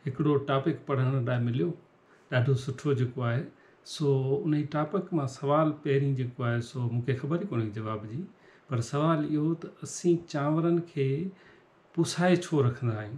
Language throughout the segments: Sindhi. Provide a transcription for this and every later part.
هڪڙو ٽاپڪ پڙهڻ لاء مليو ڏاڍو سٺو جيڪو آهي سو انهي ٽاپڪ مان سوال پهرين جيڪو آهي سو مون کي خبر ئي ڪونهي جواب جي پر سوال اهو ته اسين چانورن کي پسائي ڇو رکندا آهيون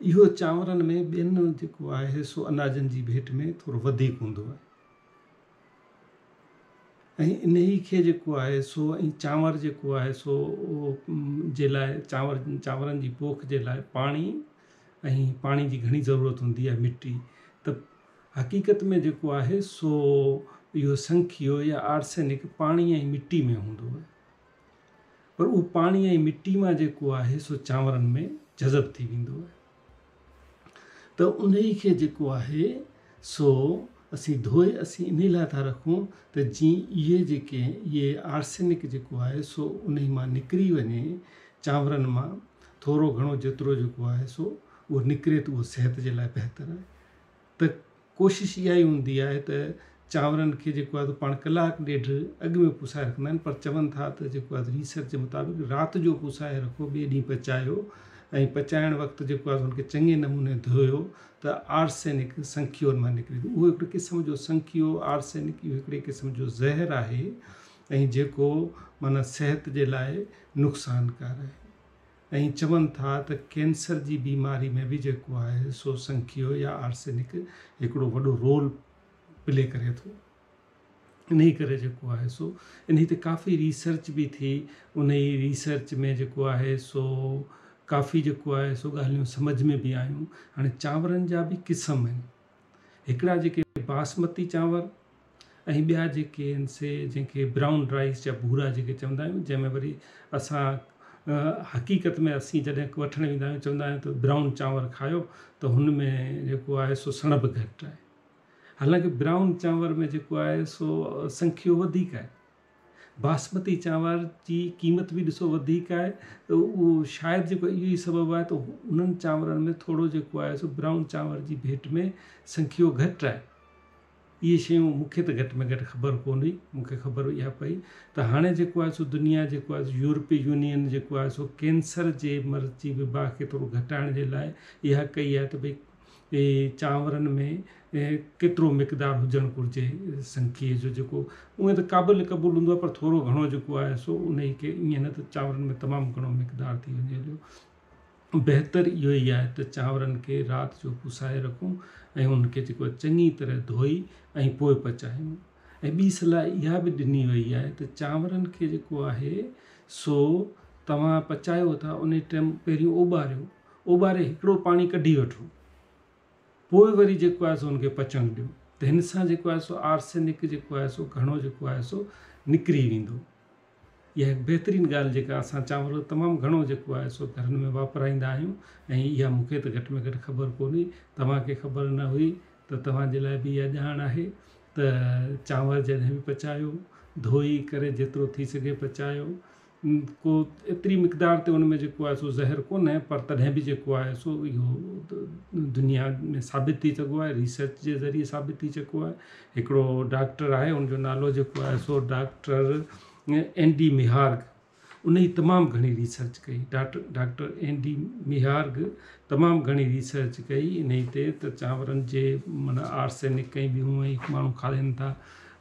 اهو چانورن ۾ ٻين جيڪو آهي سو اناجن جي ڀيٽ ۾ ٿورو وڌيڪ هوندو آهي ۽ انهي کي جيڪو آهي سو ۽ چانور جيڪو آهي سو جي لاء چانور چانورن جي پوک جي لاء پاڻي ۽ پاڻي جي گهڻي ضرورت هوندي آهي مٽي ته حقيقت ۾ جيڪو آهي سو اهو سنکيو يا آرسينڪ پاڻي ۽ مٽي ۾ هوندو آهي پر اهو پاڻي ۽ مٽي مان جيڪو آهي سو چانورن ۾ جذب ٿي ويندو آهي ته انهي کي جيڪو آهي سو اسين ڌوئي اسين انهي لاء ٿا رکون ته جي اهي جيڪي اهي آرسينڪ جيڪو آهي سو انهي مان نڪري وڃي چانورن مان ٿورو گهڻو جيترو جيڪو آهي سو اهو نڪري ته اهو صحت جي لاء بهتر آهي ته ڪوشش اها ئي هوندي آهي ته چانورن کي جيڪو آهي پاڻ ڪلاڪ ڏيڍ اڳ ۾ پوسائي رکندا آهن پر چون ٿا ته جيڪو آهي ريسرچ جي مطابق رات جو پوسائي رکو ٻئي ڏينهن پچايو ۽ پچائڻ وقت جيڪو آهي ان کي چڱي نموني ڌويو ته آرسينڪ سنکيو ان مان نڪري ٿو اهو هڪڙي قسم جو سنکيو آرسينڪ اهو هڪڙي قسم جو زهر آهي ۽ جيڪو معنيٰ صحت جي لاء نقصانڪار آهي ائين چون ٿا ته ڪينسر جي بيماري ۾ به جيڪو آهي سو سنکيو يا آرسينڪ هڪڙو وڏو رول پلي ڪري ٿو انهي ڪري جيڪو آهي سو انهي تي ڪافي ريسرچ به ٿي انهي ريسرچ ۾ جيڪو آهي سو ڪافي جيڪو آهي سو ڳالهيون سمجھ ۾ به آيون هاڻي چانورن جا به قسم آهن هڪڙا جيڪي باسمتي چانور ۽ ٻيا جيڪي آهن سي جنهن کي برائون رائيس جا ڀورا جيڪي چوندا آهيون جنهن ۾ وري اسان حقيقت ۾ اسين جڏهن وٺڻ ويندا آهيون چوندا آهيون ته برائون چانور کايو ته هن ۾ جيڪو آهي سو سڻڀ گهٽ آهي حالانڪه برائون چانور ۾ جيڪو آهي سو سنکيو وڌيڪ آهي باسمتي چانور جي قيمت به ڏسو وڌيڪ آهي ته اهو شايد جيڪو اهو ئي سبب آهي ته انهن چانورن ۾ ٿورو جيڪو آهي سو برائون چانور جي ڀيٽ ۾ سنکيو گهٽ آهي اهي شيون مون کي ته گهٽ ۾ گهٽ خبر ڪونه هئي مون کي خبر اها پئي ته هاڻي جيڪو آهي سو دنيا جيڪو آهي سو يورپي يونين جيڪو آهي سو ڪينسر جي مرض جي وبا کي ٿورو گهٽائڻ جي لاء اها ڪئي آهي ته ڀئي اهي چانورن ۾ ڪيترو مقدار هجڻ گهرجي سنکيء جو جيڪو اونئن ته قابل قبول هوندو آهي پر ٿورو گهڻو جيڪو آهي سو انهي کي ائين نه ته چانورن ۾ تمام گهڻو مقدار ٿي وڃي هليو بهتر اهو ئي آهي ته چانورن کي رات جو پسائي رکون ۽ انهن کي جيڪو آهي چڱي طرح ڌوئي ۽ پوء پچايون ۽ ٻي صلاح اها به ڏني وئي آهي ته چانورن کي جيڪو آهي سو توهان پچايو ٿا انهي ٽيم پهريون اوٻاريو اوٻاري هڪڙو پاڻي ڪڍي وٺو پوء وري جيڪو آهي سو ان کي پچڻ ڏيو ته هن سان جيڪو آهي سو آرسينڪ جيڪو آهي سو گهڻو جيڪو آهي سو نڪري ويندو اها هڪ بهترين ڳالهه جيڪا اسان چانور تمام گهڻو جيڪو آهي سو گهرن ۾ واپرائيندا آهيون ۽ اها مون کي ته گهٽ ۾ گهٽ خبر ڪونهي توهان کي خبر نه هئي ته توهان جي لاء به اها ڄاڻ آهي ته چانور جڏهن به پچايو ڌوئي ڪري جيترو ٿي سگهي پچايو ڪو ايتري مقدار تي ان ۾ جيڪو آهي سو زهر ڪونهي پر تڏهن به جيڪو آهي سو اهو دنيا ۾ ثابت ٿي چڪو آهي ريسرچ جي ذريعي ثابت ٿي چڪو آهي هڪڙو ڊاڪٽر آهي ان جو نالو جيڪو آهي سو ڊاڪٽر اين ڊي ميهارگ ان جي تمام گهڻي ريسرچ ڪئي ڊاڪٽر ڊاڪٽر اين ڊي ميهارگ تمام گهڻي ريسرچ ڪئي ان جي تي ته چانورن جي معنيٰ آرسينڪ ۽ ٻيون ماڻهو کارين ٿا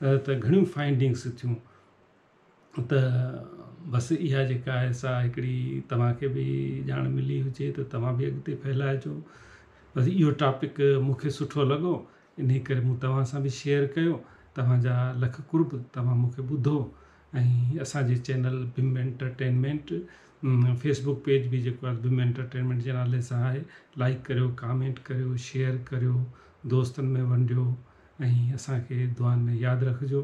ته گهڻيون فائنڊنگس ٿيون ته بس اها جيڪا آهي سا هڪڙي توهان کي به ڄاڻ ملي هجي ته توهان به اڳتي ڦهلائجو بس اهو ٽاپڪ مونکي سٺو لڳو ان جي ڪري مون توهان سان به شيئر ڪيو توهانجا لک قرب توهان مونکي ٻڌو ۽ اسانجي channel bomb entertainment Facebook page به جيڪو آهي بم انٽرٽينمينٽ جي نالي سان آهي لائڪ ڪريو ڪامينٽ ڪريو شيئر ڪريو دوستن ۾ ونڊيو ۽ اسانکي دعائن ۾ ياد رکجو